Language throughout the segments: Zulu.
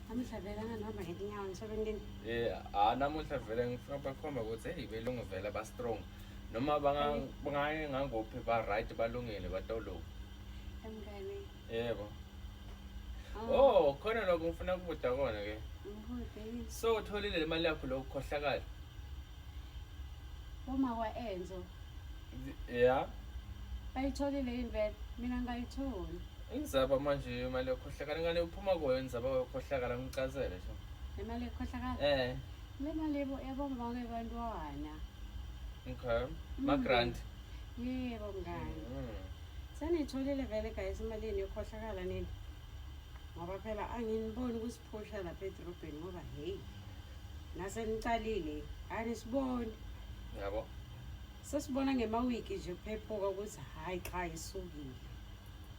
namuhla vele angihamba ngetinyawo emsebentini eh ah namuhla vele ngifuna bakhomba ukuthi hey belungu vele ba strong noma bangaye ngangophi ba right balungile batoloku emngane yebo ah. oh khona lokho ngifuna kubuda kona ke so utholile le mali yakho lokukhohlakala uma kwa enzo yeah bayitholile yini vele mina ngayitholi Inzaba manje imali yokhohlakala ingane uphuma kuyo inzaba yokhohlakala ngicazele nje. Imali yokhohlakala? Eh. Le mali yebo yebo ngibake bantwana. Okay. Mm. Ma grant. Yebo ngani. Mm. Sanitholile vele guys imali yenu yokhohlakala nini? Ngoba phela anginiboni ukusiphusha lapha edrobheni ngoba hey. Nase nicalile anisiboni. Yabo. Sesibona ngemawiki nje phephuka ukuthi hayi cha isukile.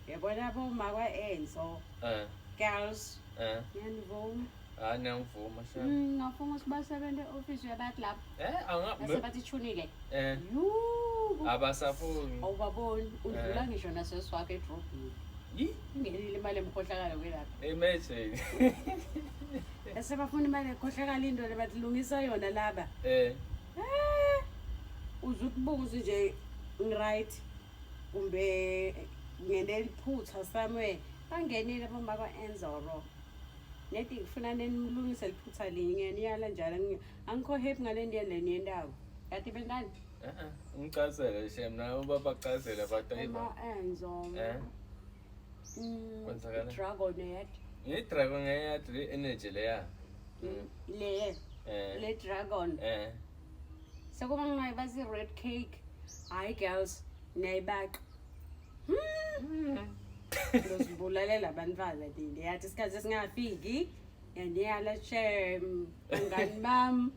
Yabona bo makwa Enzo. Eh. Girls. Eh. Niyangivuma. Hayi ngiyangivuma sha. Mm, ngafuna ukuthi basebenze office yabantu lapho. Eh, anga. Base bathi chunile. Eh. Yuu. Abasafuni. Awubaboni udlula eh. ngisho naseswakhe edrobhini. Yi? Ingenile imali emkhohlakalo kwelapha. Imagine. Base bafuna imali ekhohlakala into lebathi lungisa yona laba. Eh. Eh. Uzukubuza nje ngiright. kumbe ngenele iphutha somewhere bangenile bomba kwa-enzoro nedi ngifuna nenimlungise liphutha linye ngiyaniyala njalo angi- angikho happy ngale nto yeni le niyendako kati bentani Ngicazele shem nabo babacazele abantu ayiba. uma-enzoro Eh? Mm, Kwenzakala? dragon yet Ngi dragon ngeyadri energy leya. Mm. le Eh. le dragon Eh. sekuba ngingayiba zi-red cake hhayi girls niyayibaqa hmm. ngizibulalela abantwana bini yathi isikhathi esingafiki yandiyala shem bangani bam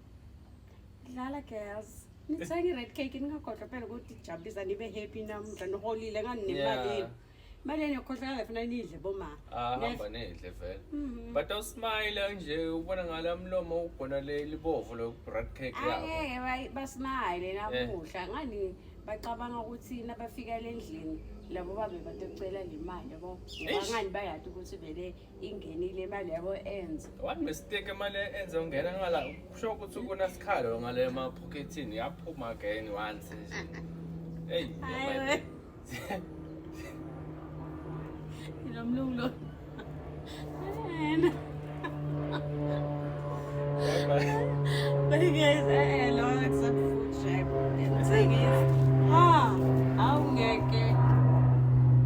dlala girls nithenge i-red cake ningagodla phela ukuthi jabulisa nibe happy namdla niholile ngani nemalini Imali yenu yokukhohlakala funa nidle boma. Ah hamba nidle vele. Mhm. But u smile nje ubona ngala mlomo ugona le libovu lo bread cake yakho. Angeke bayi- basmile Eh. namuhla ngani bacabanga ukuthi nabafika lendlini labo babe batocela le mali yabo ngoba Eish. ngani bayati ukuthi vele ingenile imali yabo enza one mistake imali enze ungena ngala kusho ukuthi kunesikhalo ngale emaphokethini yaphuma again once nje hey Hayi we. Lo mlungu lo. Ayena. But he goes, eh, lo aksa food shape. The thing is, ha, awungeke.